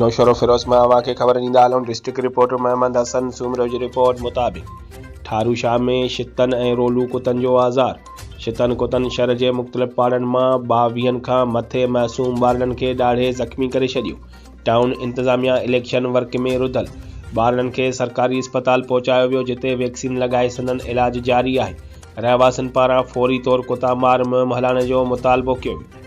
نوشهروفيروز مان اوهان کي خبر ڏيندا هلون ڊسٽرڪٽ رپورٽر محمد حسن سومرو جي رپورٽ مطابق ٺارو شاهه ۾ شتن ۽ رولو ڪتن جو آزار شتن ڪتن شھر جي مختلف پاڙن مان ٻاويھن کان مٿي معصوم ٻارڙن کي ڏاڙھي زخمي ڪري ڇڏيو ٽائون انتظاميا اليڪشن ورڪ ۾ رڌل ٻارڙن کي سرڪاري اسپتال پهچايو ويو جتي ويڪسين لڳائي سندن علاج جاري آهي رهواسين پاران فوري طور ڪتا مار مهم هلائڻ جو مطالبو ڪيو ويو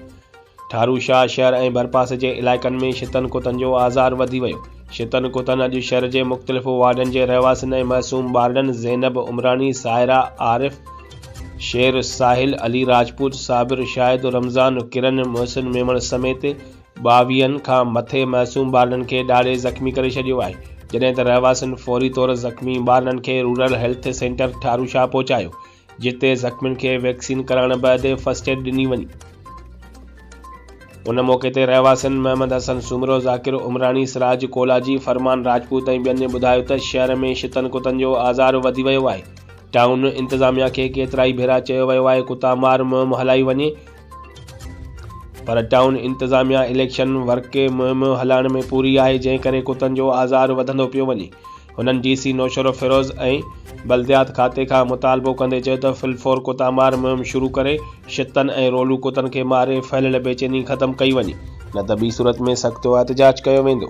ٺارو شاهه شهر ۽ ڀرپاسي جي علائقن ۾ شتن ڪتن جو آزار وڌي ويو، شتن ڪتن اڄ شھر جي مختلف وارڊن جي رهواسين ۽ معصوم ٻارڙن زينب عمراڻي، سائره عارف، شير، ساحل، علي راجپوت، صابر، شاهد، رمضان، ڪرن، محسن ميمڻ سميت ٻاويهن کان مٿي معصوم ٻارڙن کي ڏاڙهي زخمي ڪري ڇڏيو آهي جڏهن ته رهواسين فوري طور زخمي ٻارڙن کي رورل هيلٿ سينٽر ٺاروشاهه پهچايو جتي زخمين کي ويڪسين ڪرائڻ بعد فرسٽ ايڊ ڏني وڃي. ان موقعي تي رهواسين محمد حسن سومرو، ذاڪر عمراڻي، سراج ڪولاجي، فرمان راجپوت ۽ ٻين ٻڌايو ته شهر ۾ شتن ڪتن جو آزار وڌي ويو آهي، ٽائون انتظاميا کي ڪيترائي ڀيرا چيو ويو آهي ڪتا مار مهم هلائي وڃي پر ٽائون انتظاميا اليڪشن ورڪي مهم هلائڻ ۾ پوري آهي جنهن ڪري ڪتن جو آزار وڌندو پيو وڃي. هنن ڊي سي نوشهروفيروز ۽ بلديات کاتي کان مطالبو ڪندي چيو ته فل فور ڪتا مار مهم شروع ڪري شتن ۽ رولو ڪتن کي ماري ڦهليل بيچيني ختم ڪئي وڃي نه ته ٻي صورت ۾ سختواحتجاج ڪيو ويندو.